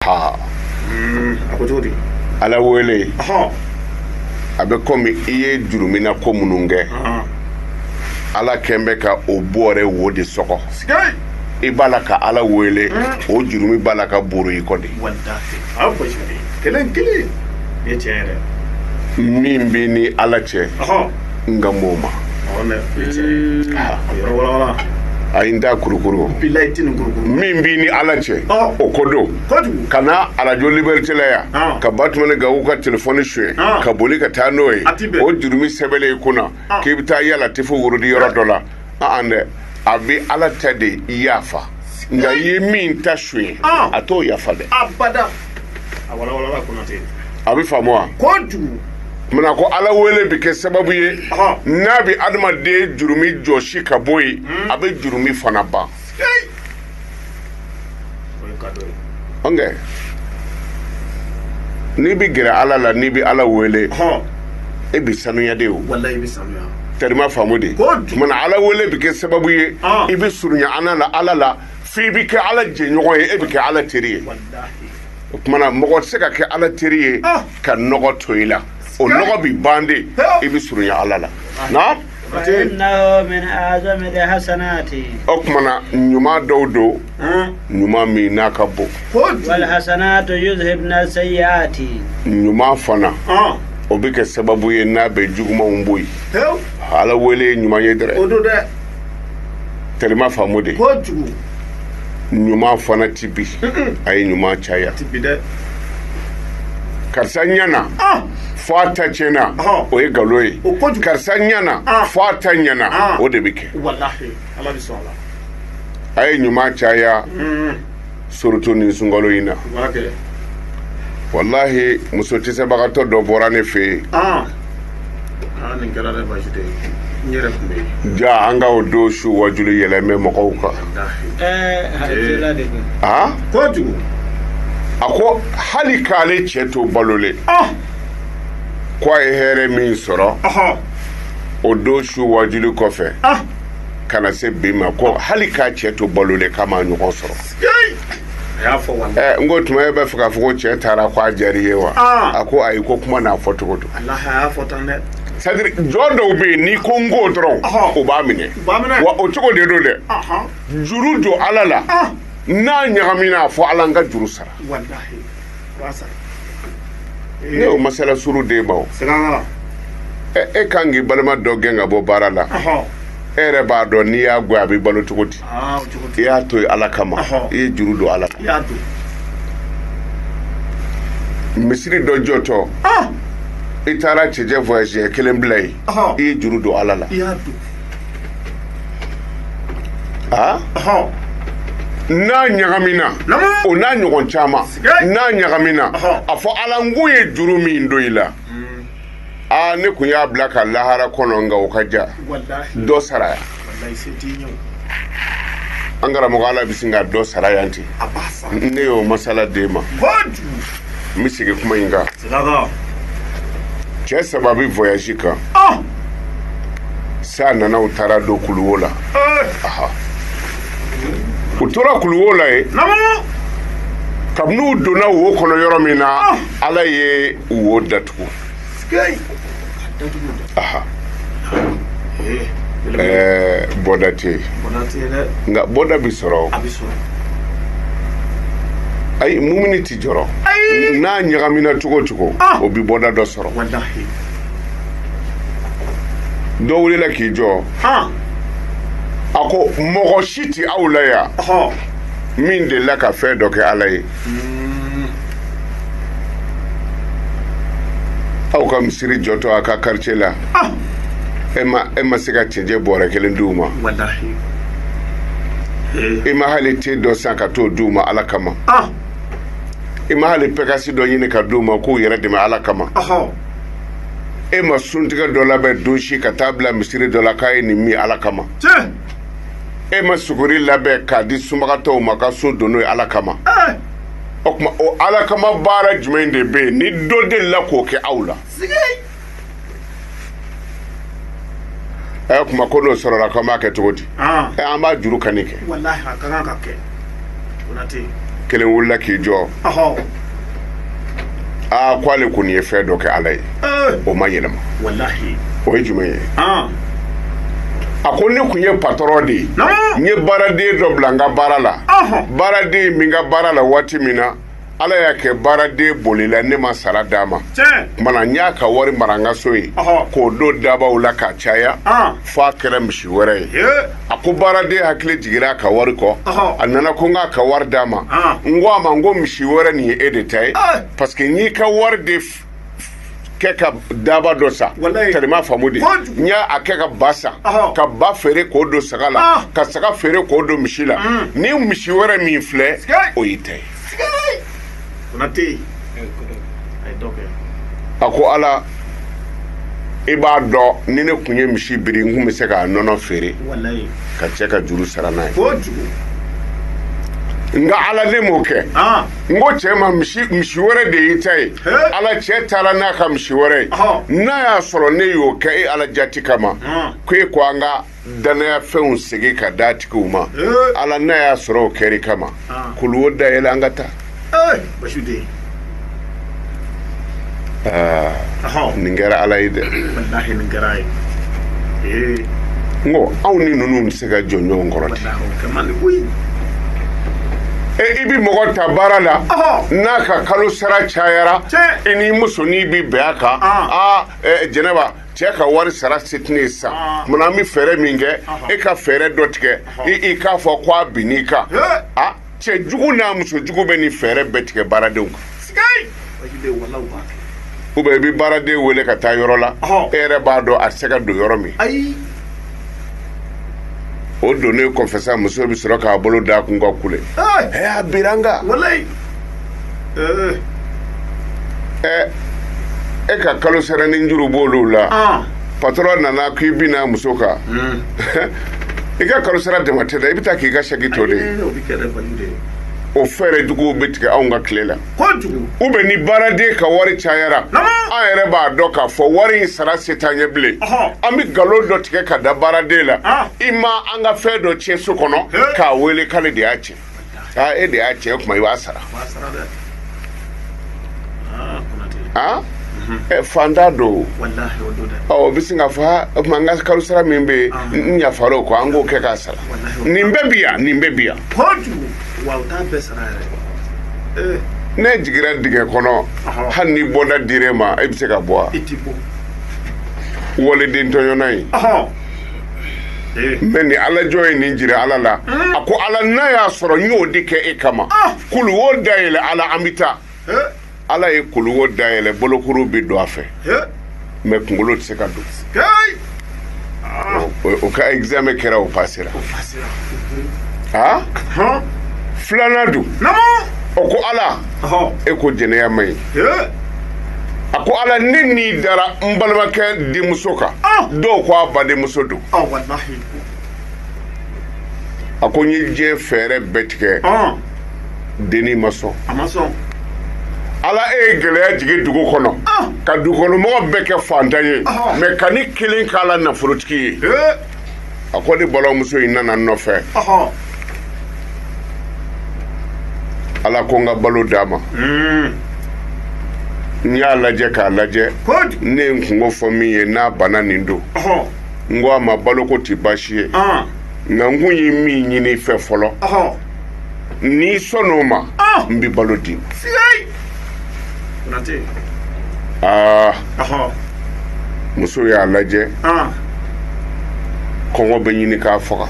ha mm, a ko cogo di ala wele a bɛ komi i ye jurumina ko minnu kɛ ala kɛlen bɛ ka o bɔɔrɛ wo de sɔgɔ i b'a la ka ala wele mm. o jurumi b'a la ka burun i kɔ de min b'i ni ala cɛ nka mɔgɔw ma a ye n da kurukuru min b'i ni ala cɛ o ko don ka na arajo liberite la yan ka batumani gaku ka telefɔni suye ka boli ka taa n'o ye o jurumi sɛbɛnnen i kunna k'i bɛ taa ya latifu wurudi yɔrɔ dɔ la an dɛ a bɛ ala ta de yafa nka i ye min ta suye ah. a t'o yafa dɛ a bɛ faamu wa munna ko ala wele bɛ kɛ sababu ye n'a bɛ adamaden jurumi jɔsi ka bɔ yen hmm. a bɛ jurumi fana ban ɔnkɛ n'i bɛ gɛrɛ ala la n'i bɛ ala wele e bɛ sanuya de o tari i m'a faamu dɛ munna ala wele bɛ kɛ sababu ye i bɛ surunya an la ala la f'i bɛ kɛ ala jɛɲɔgɔn ye e bɛ kɛ ala teri ye o tuma na mɔgɔ tɛ se ka kɛ ala teri ye ka nɔgɔ to i la o nɔgɔ bɛ ban de i bɛ surunya ala la o tuma na ɲuman dɔw don ɲuman min n'a ka bon wal hasanatu yuzhibna sayiati ɲuman fana o bɛ kɛ sababu ye n'a bɛ jugumanw bɔ yen ala wele ɲuman ye dɛrɛ tari i m'a faamu dɛ ɲuman fana tɛ bi a ye ɲuman caya karisa ɲana fo a ta tiɲɛna o ye nkalon ye karisa ɲana fo a ta ɲana o de bɛ kɛ a ye ɲuman caya hmm. surutu nin sunkalo in na walahi muso cɛsabagatɔ dɔ bɔra ne fɛ yen jaa an ka o don su waajuli yɛlɛma mɔgɔw kan a ko hali k'ale cɛ to balolen ko a ye hɛrɛ min sɔrɔ o don su waajuli kɔfɛ ka na se bi ma ko hali k'a cɛ to balolen k'a m'a ɲɔgɔn sɔrɔ n ko o tuma e bɛ fɛ k'a fɔ ko cɛ taara k'a diyara i ye wa a ko ayi ko kuma n'a fɔ cogo don sɛtadiri jɔn dɔw bɛ yen n'i ko n ko dɔrɔn o b'a minɛ wa o cogo de don dɛ juru don ala la n'a ɲagamina a fɔ ala n ka juru sara ne y'o masala suru den ma o e kan k'i balima dɔ gɛn ka bɔ baara la e yɛrɛ b'a dɔn n'i y'a gɛn a bɛ balo cogo di i y'a to ala kama i ye juru don ala la misiri dɔ jɔtɔ i taara cɛncɛn voyage kelen bila yen i ye juru don ala la n'a ɲagamina o n'a ɲɔgɔn caman n'a ɲagamina a fɔ ala n kun ye juru min don i la hmm. aa ne tun y'a bila ka lahara kɔnɔ nka o ka jan dɔ sara yan an karamɔgɔ ala bɛ sin ka dɔ sara yan ten ne y'o masala den ma n bɛ segin kuma in kan cɛ saba bɛ voyage kan ah! san nana u taara don kuluwo la eh! u tora kuluwo la yen kabini u donna wo kɔnɔ yɔrɔ min na ah! ala ye wo datugu bɔda tɛ yen nka bɔda bɛ sɔrɔ ayi mumini tɛ jɔrɔ n'a ɲagamina cogo cogo ah! o bɛ bɔda dɔ sɔrɔ dɔ wulila k'i jɔ ah! a ko mɔgɔ si tɛ aw la yan min delila ka fɛn dɔ kɛ ala ye Aw ka misiri jɔtɔ a ka quartier la e ma se ka cɛncɛn bɔrɛ kelen d'u ma e ma hali te dɔ san ka t'o d'u ma ala kama e ma hali pikasi dɔ ɲini ka di u ma k'u yɛrɛ dɛmɛ ala kama e ma suntigɛ dɔ labɛn don si ka taa bila misiri dɔ la k'a ye nin min ala kama e ma suguri labɛn k'a di sunbagatɔw ma ka sun don n'o ye ala kama o tuma o ala kama baara jumɛn de bɛ yen ni dɔ delila k'o kɛ aw la ɛ kuma ko n'o sɔrɔla k'an b'a kɛ cogo di ɛ an b'a juru kani kɛ kelen wulila k'i jɔ a ko ale kɔni ye fɛn dɔ kɛ ala ye eh. o ma yɛlɛma o ye jumɛn ye ah. a ko ne tun ye patɔrɔn de ye n ye baaraden dɔ bila n ka baara la baaraden min ka baara la waati min na ala y'a kɛ baaraden bolila ne ma sara d'a ma kuma na n y'a ka wari mara n ka so yen k'o don daabaw la k'a caya fo a kɛra misi wɛrɛ ye a ko baaraden hakili jigira a ka wari kɔ a nana ko n k'a ka wari d'a ma n ko a ma n ko misi wɛrɛ nin ye e de ta ye paseke n'i ka wari de kɛ ka daaba dɔ san kalima faamu de n y'a kɛ ka ba san ka ba feere k'o don saga la ah. ka saga feere k'o don misi la mm. ni misi wɛrɛ min filɛ o y'i ta ye a ko ala i b'a dɔn ni ne tun ye misi biri n tun bɛ se k'a nɔnɔ feere ka cɛ ka juru sara n'a ye nka ala ne m'o kɛ ah. n ko cɛ ma misi wɛrɛ de y'i ta ye ala cɛ taara n'a ka misi wɛrɛ ye n'a y'a sɔrɔ ne y'o kɛ e ala jati kama ko e ko an ka dannaya fɛnw segin ka d'a tigiw ma ala n'a y'a sɔrɔ o kɛr'i kama kuluwo dayɛlɛ an ka taa aa Ɔhɔn. nin kɛra ala ye dɛ walahi nin kɛra a ye ee n ko anw ni ninnu tɛ se ka jɔ ɲɔgɔn kɔrɔ ten walahi o kɛ man di koyi e i bɛ mɔgɔ ta baara la Ɔhɔn. n'a ka kalo sara cayara Tiɲɛ. i n'i musonin bɛ bɛn a kan Ah. aa ɛ, jɛnɛba cɛ ka wari sara se tɛ ne ye sisan Ah. munna an bɛ fɛɛrɛ min kɛ Ɔhɔn. e ka fɛɛrɛ dɔ tigɛ i i k'a fɔ ko a binn'i kan He. a cɛ jugu n'a muso jugu bɛ nin fɛɛrɛ bɛɛ tigɛ baaradenw kan sigai ou bien i bɛ baaraden wele ka taa yɔrɔ la e yɛrɛ b'a dɔn a tɛ se ka don yɔrɔ min o donnen kɔfɛ sa muso bɛ sɔrɔ k'a bolo d'a kun ka kule a bira n kan e ka kalo saranin juru b'olu la patron nana k' i binna muso kan i ka kalo sara dama tɛ i bɛ taa k' i ka sɛki to o fɛɛrɛ juguw bɛ tigɛ anw ka tile la ou bien ni baaraden ka wari cayara an yɛrɛ b'a dɔn k'a fɔ wari in sara se t'an ye bilen an bɛ nkalon dɔ tigɛ ka da baaraden la i ma an ka fɛn dɔ cɛn so kɔnɔ k'a wele k'ale de y'a cɛn aa e de y'a cɛn o tuma i b'a sara ah, mhm. eh, faantan don o bɛ sin k'a fɔ o tuma n ka kalo sara min bɛ yen ah. n yafara o kɔ an k'o kɛ k'a sara nin bɛɛ bi yan nin bɛɛ bi yan eh. ne jigira dingɛ kɔnɔ hali ni bɔda dir'e ma e bɛ se ka bɔ wa waliden tɔɲɔna ye Eh. mɛ ni ala jɔn ye nin jira ala la eh. a ko ala n'a y'a sɔrɔ n y'o de kɛ e kama ah. kuluwo dayɛlɛ ala an bɛ taa eh. ala ye kuluwo dayɛlɛ bolokuru bɛ don a fɛ mɛ kunkolo tɛ se ka don ah. o ka examen kɛra o pasera a ah? filanan dun o ko ala e ko jɛnɛya man ɲi a ko ala ne ni dara n balimakɛ denmuso kan ah! dɔw ko a badenmuso don ah, a ko n ye diɲɛ fɛɛrɛ bɛɛ tigɛ ah! dennin ma sɔn ala e ye gɛlɛya jigin dugu kɔnɔ ka dugukɔnɔmɔgɔ bɛɛ kɛ fantan ye mɛ ka ne kelen k'a la nafolotigi ye a ko ne balimamuso in nana n nɔfɛ ala ko n ka balo d'a ma hmm. n y'a lajɛ k'a lajɛ ne ye n kunko fɔ min ye n'a banna nin don n ko a ma baloko tɛ baasi ye ah. nka n kun ye min ɲini i fɛ fɔlɔ n'i sɔnn'o ma n bɛ balo d'i ma muso y'a lajɛ kɔngɔ bɛ ɲini k'a faga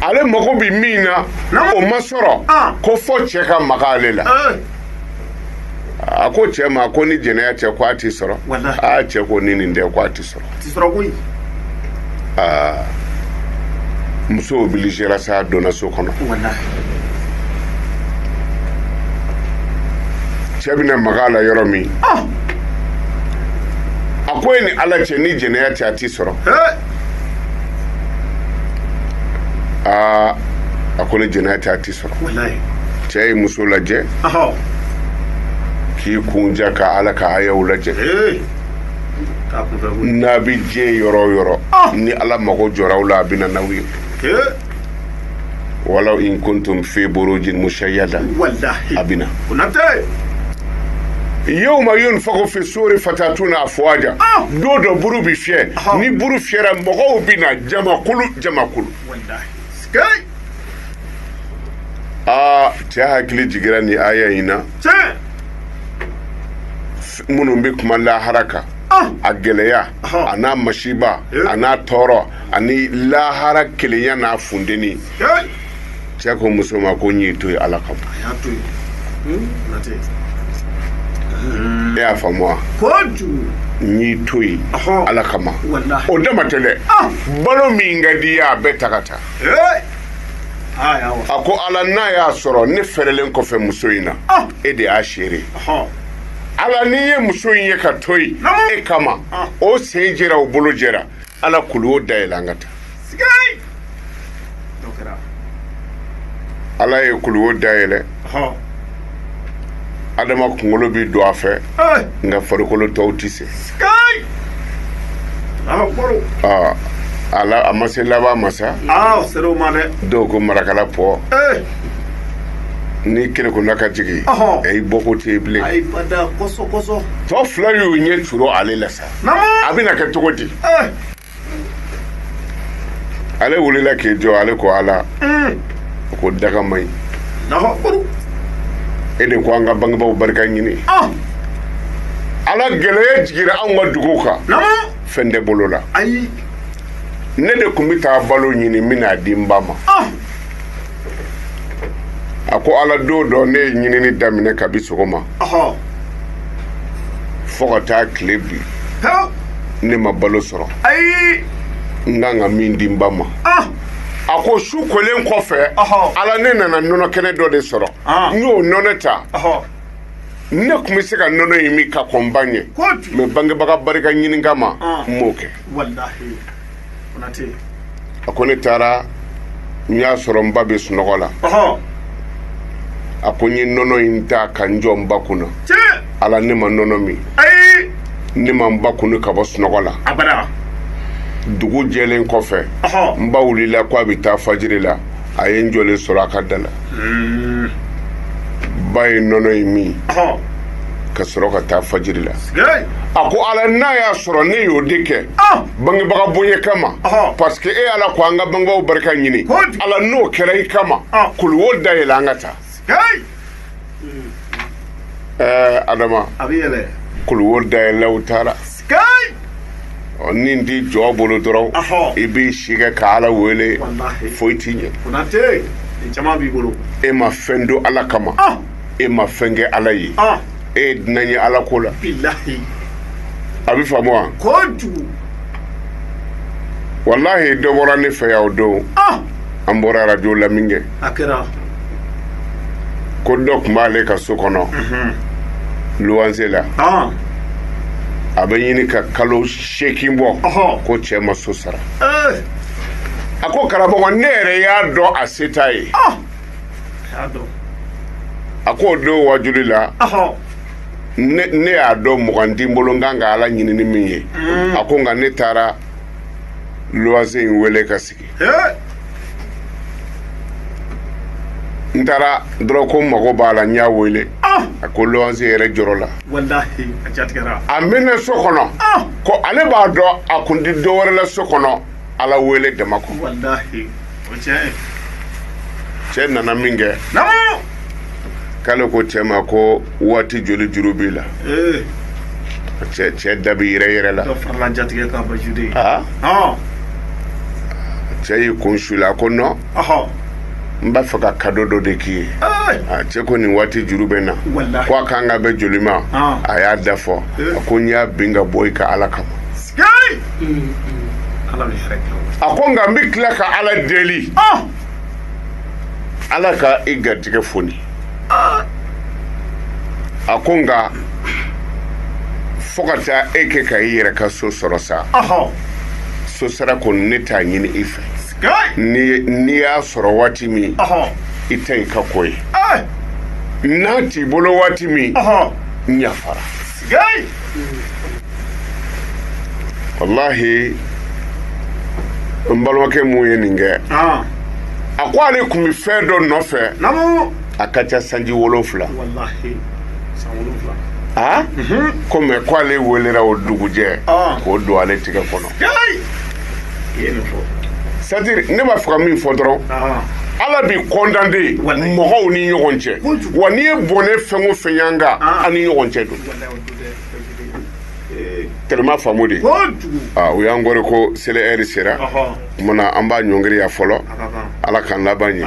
ale mago bɛ min na o ma sɔrɔ ko fo cɛ ka maga ale la a ko cɛ ma ko ni jɛnɛya tɛ ko a tɛ sɔrɔ cɛ ko ni nin tɛ ko a tɛ sɔrɔ koyi aa muso obiligera sa donna so kɔnɔ cɛ bɛna maga a la yɔrɔ min a ko e ni ala cɛ ni jɛnɛya tɛ a tɛ sɔrɔ aa a ko ni jɛnɛya tɛ a tɛ sɔrɔ cɛ ye muso lajɛ k'i kun ja ka ala ka ayaw lajɛ n'a bɛ diɲɛ yɔrɔ o yɔrɔ ah! ni ala mago jɔra aw la a bɛ na n'aw ye walaw in kuntum fi burujin musayada a bɛ na yawma yunfaku fi suri fatatuna afwaja ah! don dɔ buru bɛ fiyɛ ah! ni buru fiyɛra mɔgɔw bɛ na jamakulu jamakulu aa cɛ hakili jiginra ni aya in na minnu bɛ kuma lahara kan ah! a gɛlɛya a n'a masiba eh! a n'a tɔɔrɔ ani lahara kelenya n'a funteni eh! cɛ ko muso ma ko n y'i to yen ala kama hmm? hmm. e y'a faamu wa n y'i to yen ala kama o dama tɛ dɛ ah! balo min ka di i ye a bɛɛ ta ka taa eh! a ko ala n'a y'a sɔrɔ ne fɛrɛlen kɔfɛ muso in na ah! e de y'a seere ala ni n ye muso in ye k'a to yen e kama ah. o sen jɛra o bolo jɛra ala kulu o dayɛlɛ an ka taa ala ye kulu o dayɛlɛ adama kunkolo bɛ don a fɛ nka farikolo tɔw tɛ se ala a ma se laban ma sa dɔw ko marakala pɔn ni kelen ko n'a ka jigin a ye bɔko tɛ bilen tɔ fila y'u ɲɛ turu ale la sa a bɛna kɛ cogo di ale wulila k'i jɔ ale ko ala ko daga man ɲi e de ko an ka bangebaw barika ɲini ala gɛlɛya jigira anw ka dugu kan fɛn tɛ bolo la ne de kun bɛ taa balo ɲini n bɛ n'a di n ba ma a ko ala don dɔ ne ye ɲinini daminɛ kabi sɔgɔma fo ka taa tile bin ne ma balo sɔrɔ n kan ka min di n ba ma ah! a ko su kolen kɔfɛ ala ne nana nɔnɔ kɛnɛ dɔ de sɔrɔ ah. n y'o nɔnɔ ta ne kun bɛ se ka nɔnɔ in min ka kɔn n ba ɲɛ mais bangebaga barika ɲini kama ah. n m'o kɛ a ko ne taara n y'a sɔrɔ n ba bɛ sunɔgɔ la a ko n ye nɔnɔ in ta ka n jɔ n ba kunna ala ne ma nɔnɔ min ne ma n ba kunu ka bɔ sunɔgɔ la dugu jɛlen kɔfɛ n ba wulila ko a bɛ taa fajiri la a ye n jɔlen sɔrɔ a ka da la hmm. ba ye nɔnɔ in min ka sɔrɔ ka taa fajiri la a ko ala n'a y'a sɔrɔ ne y'o de kɛ ah! bangebaga bonya kama parce que e ala ko an ka bangebaw barika ɲini ala n'o kɛra i kama ah! kuluwo dayɛlɛ an ka taa ɛɛ adama kuluwo dayɛlɛla u taara ɔ ni t'i jɔ bolo dɔrɔn i b'i si kɛ ka ala wele foyi t'i ɲɛ e ma fɛn don ala kama ah! e ma fɛn kɛ ala ye ah! e ye dunan ye ala ko la a bɛ faamu wa walahi dɔ bɔra ne fɛ yan o don ah! an bɔra arajo la min kɛ ko dɔ kun b'ale ka so kɔnɔ luwanse la a bɛ ɲini ka kalo seegin bɔ ko cɛ ma so sara a ko karamɔgɔ ne yɛrɛ y'a dɔn a se t'a ye a ko o don wajuli la ne y'a dɔn mugan tɛ n bolo n kan ka ala ɲini ni min ye a ko nka ne taara luwanse in wele ka sigi n taara dɔrɔn ko mago b'a la n y'a wele ah! a ko luwanse yɛrɛ jɔrɔla a mɛnna so kɔnɔ ah! ko ale b'a dɔn a kun tɛ dɔ wɛrɛ la so kɔnɔ ala wele dama kɔ cɛ nana min kɛ k'ale ko cɛ ma ko waati joli juru b'i la ee cɛ cɛ da bɛ yɛrɛyɛrɛ la dɔ farala jatigɛ kan ba jude aa ɔn cɛ y'i kun su la a ko nɔn ɔhɔ n b'a fɛ ka kado dɔ de k'i ye ee a cɛ ko nin waati juru bɛ n na Walahi. ko a kan ka bɛn joli ma Ah. a y'a da fɔ Eh. a ko n y'a bin ka bɔ i kan ala kama sikei ala bɛ hɛrɛ kɛ o a ko nka n bɛ tila ka ala deli ɔn ala ka i garijɛgɛ foni a ko nka fo ka taa e kɛ ka i yɛrɛ ka so sɔrɔ sa so sara kɔni ne t'a ɲini i fɛ n'i y'a sɔrɔ waati min i ta i ka ko ye n'a t'i bolo waati min n yafara walahi n balimakɛ min ye nin kɛ ah. a ko ale tun bɛ fɛn dɔ nɔfɛ a ka ca sanji wolonfila ah? mhm. ko mɛ ko ale welela o dugujɛ ah. k'o don ale tigɛ kɔnɔ ne b'a fɛ ka min fɔ dɔrɔn ala bɛ kɔndanden mɔgɔw ni ɲɔgɔn cɛ wa n'i ye bɔnɛ fɛn o fɛn y'an kan an ni ɲɔgɔn cɛ don tellement faamu de o y'an kɔrɔ ko seli ɛri sera o tuma na an b'an ɲɔngiri yan fɔlɔ ala k'an laban ɲɛ